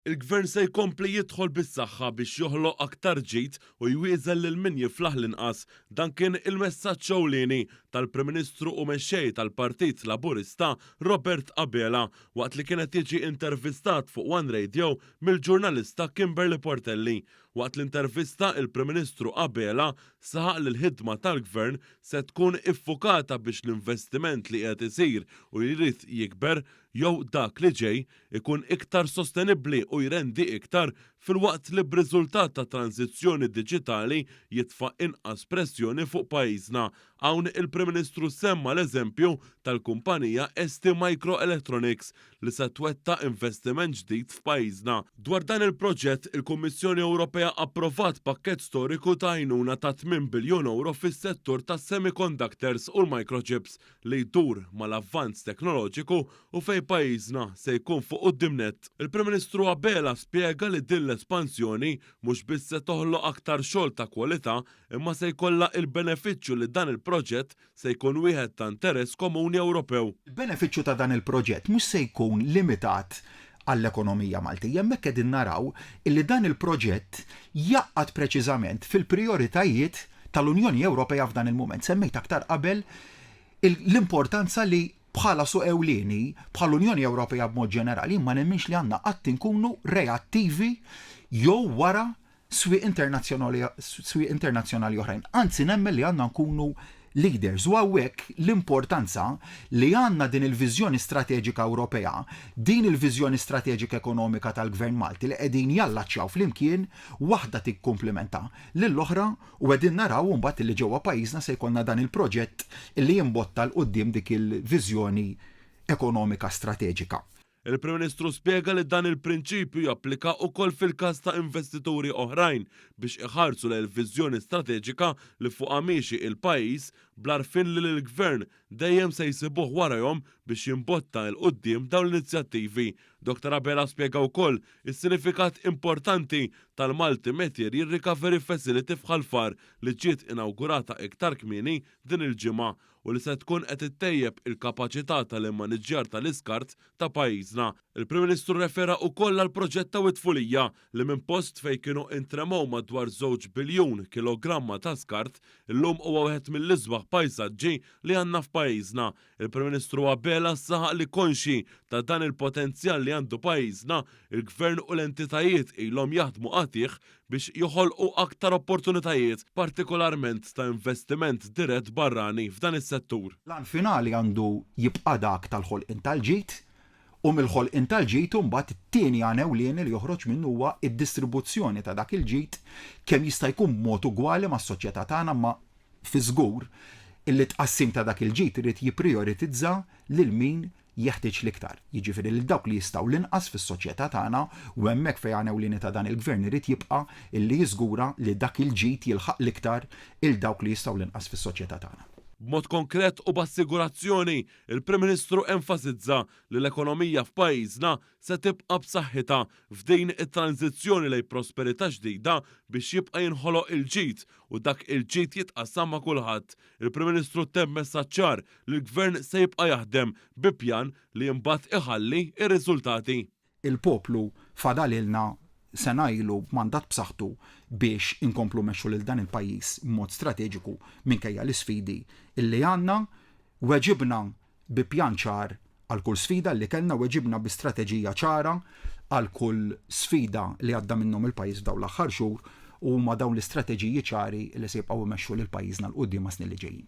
Il-Gvern se jkompli jidħol bis-saħħa biex joħloq aktar ġid u jwieżel lil min jiflaħ l-inqas. Dan kien il-messaġġ ewlieni tal-Prim Ministru u Mexxej tal-Partit Laburista Robert Abela waqt li kien qed jiġi intervistat fuq one Radio mill-ġurnalista Kimberly Portelli. Waqt l-intervista, il-Prim Ministru Abela saħaq li l-ħidma tal-Gvern se tkun iffukata biex l-investiment li qiegħed isir u li jrid jikber, jew dak li ġej, ikun iktar sostenibbli u jrendi iktar, filwaqt li b'riżultat ta' tranżizzjoni diġitali jitfa' inqas pressjoni fuq pajjiżna Hawn il-Prim Ministru semma l-eżempju tal-kumpanija ST Micro Electronics li se twettaq investiment ġdid f'pajjiżna. Dwar dan il-proġett, il-Kummissjoni Ewropea approvat pakkett storiku ta' għajnuna ta' tmien biljun ewro fis-settur tas-semiconductors u l-microchips li jdur mal-avvanz teknoloġiku u fejn pajjiżna se jkun fuq quddiem nett. Il-Prim Ministru Abela spjega li din l-espansjoni mhux biss se toħloq aktar xogħol ta' kwalità imma se jkollha il-benefiċċju li dan il-proġett se jkun wieħed ta' interess komuni Ewropew. Il-benefiċċju ta' dan il-proġett mhux se jkun limitat għall-ekonomija Maltija. Hemmhekk qegħdin naraw illi dan il-proġett jgħaqqad preċiżament fil-prijoritajiet tal-Unjoni Ewropea f'dan il-mument. Semmejt aktar qabel l-importanza li bħala suq ewlieni, bħall-Unjoni Ewropea b'mod ġenerali, jien ma nemminx li għandna qatt inkunu reattivi jew wara swieq internazzjonali swieq internazzjonali oħrajn. Anzi nemmen li għandna nkunu leaders u hawnhekk l-importanza li għandna din il-viżjoni strateġika Ewropea, din il-viżjoni strateġika ekonomika tal-Gvern Malti li qegħdin jallaċċjaw flimkien waħda tikkumplimenta lill-oħra u qegħdin naraw imbagħad li ġewwa pajjiżna se jkollna dan il-proġett li jimbotta 'l quddiem dik il-viżjoni ekonomika strateġika. Il-Prim Ministru spjega li dan il-prinċipju japplika wkoll fil-każ ta' investituri oħrajn biex iħarsu lejn il-viżjoni strateġika li fuqha miexi il-pajjiż bl-għarfien li l-Gvern dejjem se jsibuh warajhom biex jimbotta 'l quddiem dawn l-inizjattivi. Dr Abela spjega wkoll is-sinifikat importanti tal-Multi Material Recovery Facility f'Ħal Far li ġiet inawgurata iktar kmieni din il-ġimgħa u li se tkun qed ittejjeb il-kapaċità tal-immaniġġjar tal-iskart ta' pajjiżna. Il-Prim Ministru rrefera ukoll għall-proġett ta' Wied Fulija li minn post fejn kienu intremew madwar żewġ biljun kilogramma ta' skart, illum huwa wieħed mill-isbaħ pajsaġġi li għandna f'pajjiżna. Il-Prim Ministru Abela saħaq li konxji ta' dan il-potenzjal li għandu pajjiżna, il-Gvern u l-entitajiet ilhom jaħdmu qatigħ biex joħolqu aktar opportunitajiet, partikolarment ta' investiment dirett barrani f'dan is-settur. L-għan finali għandu jibqa' dak tal-ħolqien tal-ġid, u mill-ħolqien tal-ġid imbagħad it-tieni għan ewlieni li joħroġ minnu huwa d-distribuzzjoni ta' dak il-ġid kemm jista' jkun b'mod ugwali mas-soċjetà tagħna imma fi żgur illi t-tqassim ta' dak il-ġid irid jipprijoritizza lil min jeħtieġ l-iktar, jiġifieri lil dawk li jistgħu l-inqas fis-soċjetà tagħna u hemmhekk fej għan ewlieni ta' dan il-Gvern irid jibqa' illi jiżgura li dak il-ġid jilħaq l-iktar 'il dawk li jistgħu l-inqas fis-soċjetà tagħna. B'mod konkret u b'assigurazzjoni, il-Prim Ministru enfasizza li l-ekonomija f'pajjiżna se tibqa' b'saħħitha f'din it-tranżizzjoni lejn prosperità ġdida biex jibqa' jinħoloq il-ġid u dak il-ġid jitqassam ma' kulħadd Il-Prim Ministru ttemm messaġġ ċar li l-Gvern se jibqa' jaħdem bi pjan li imbagħad iħalli r-riżultati. Il-poplu fadalilna sena ilu b'mandat b'saħħtu biex inkomplu mmexxu lil dan il-pajjiż b'mod strateġiku minkejja l-isfidi li għandna. Weġibna bi pjan ċar għal kull sfida li kellna u weġibna bi strateġija ċara għal kull sfida li għadda minnhom il-pajjiż f'dawn l-aħħar xhur u huma dawn l-istrateġiji ċari li se jibqgħu jmexxu lil pajjiżna 'l quddiem għas-snin li ġejjin.